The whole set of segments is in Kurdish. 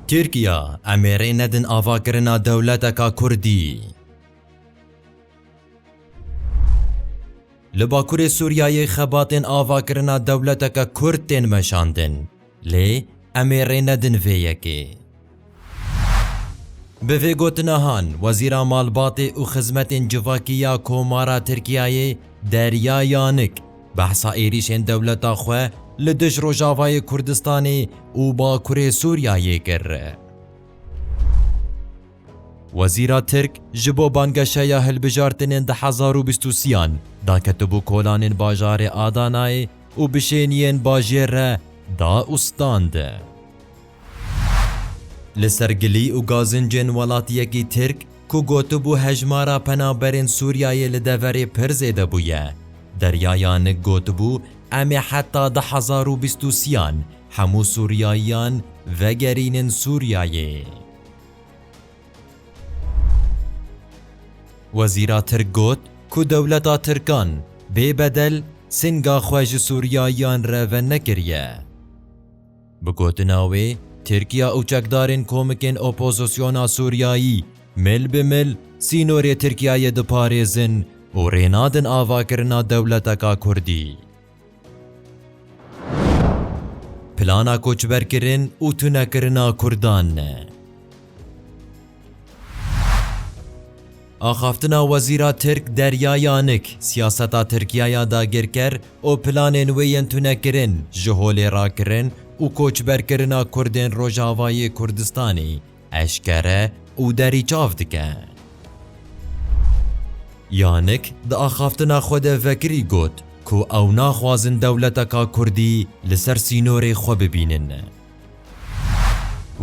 Tirkiya, Emê rê nedin avakirina dewleteka kurdî. Li Bakurê Sûriyeyê xebatên avakirina dewleteke kurd tên meşandin, lê emê rê nedin vê yekê. Bi vê gotinahan, Wezîra Malbatê û Xizmetên Civakî ya Komara Tirkiyeyê, Derya Yanik, Behsa êrîşên dewleta xwe li dij Rojavayê Kurdistanê û Bakurê Sûriyeyê kir. Wezîra Tirk ji bo bangeşeya hilbijartinên di hezar û bîst û sîyan de ketibû kolanên bajarê Adanayê û bişêniyên bajêr re da û stand. Li ser gilî û gazincên welatiyekî Tirk ku gotibû hejmara penaberên Sûriyeyê li deverê pir zêde bûye, Derya Yanik gotibû, Em ê heta du hezar û bîst û sî-yan hemû Sûriyayiyan vegerînin Sûriyeyê. Wezîra Tirk got ku dewleta Tirkan bê bedel sînga xwe ji Sûriyayiyan re venekiriye. Bi gotina wê, Tirkiya û çekdarên komikên opozisyona Sûriyayî mil bi mil sînorê Tirkiyeyê diparêzin û rê nadin avakirina dewleteka Kurdî. Plana koçberkirin û tunekirina Kurdan. Axaftina Wezîra Tirk Derya Yanik, siyaseta Tirkiye ya dagirker û planên wê yên tunekirin, ji holê rakirin û koçberkirina Kurdên Rojavayê Kurdistanê eşkere û derî çav dike. Yanik di axaftina xwe de vekirî got ku ew naxwazin dewleteka Kurdî li ser sînorê xwe bibînin.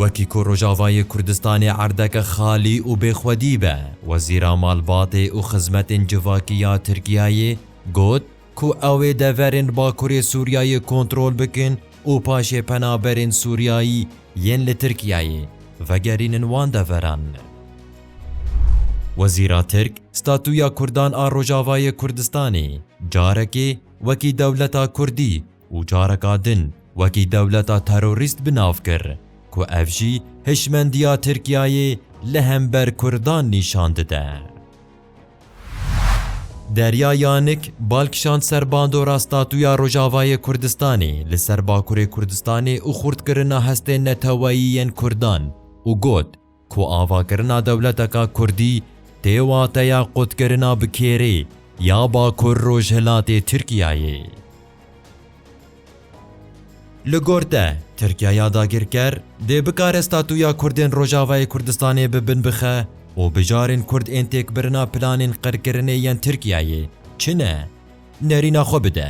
Wekî ku Rojavayê Kurdistanê erdeke xalî û bêxwedî be, Wezîra Malbatê û Xizmetên Civakî ya Tirkiyeyê got ku ew ê deverên Bakurê Sûriyeyê kontrol bikin û paşê penaberên Sûriyeyî yên li Tirkiyeyê vegerînin wan deveran. Wezîra Tirk statuya Kurdan a Rojavayê Kurdistanê carekê wekî dewleta Kurdî û careka din wekî dewleta terorîst bi nav kir ku ev jî hişmendiya Tirkiyeyê li hember Kurdan nîşan dide. Derya Yanik bal kişand ser bandora statuya Rojavayê Kurdistanê li ser Bakurê Kurdistanê û xurtkirina hestên neteweyî yên Kurdan û got, Ku avakirina dewleteka kurdî tê wateya qotkirina bi kêrê ya Bakur Rojhilatê Tirkiyeyê. Li gor te, Tirkiyeya dagirker dê bikare statuya Kurdên Rojavayê Kurdistanê bi bin bixe û bijarên Kurd ên têkbirina planên qirkirinê yên Tirkiyeyê çi ne, nerîna xwe bide.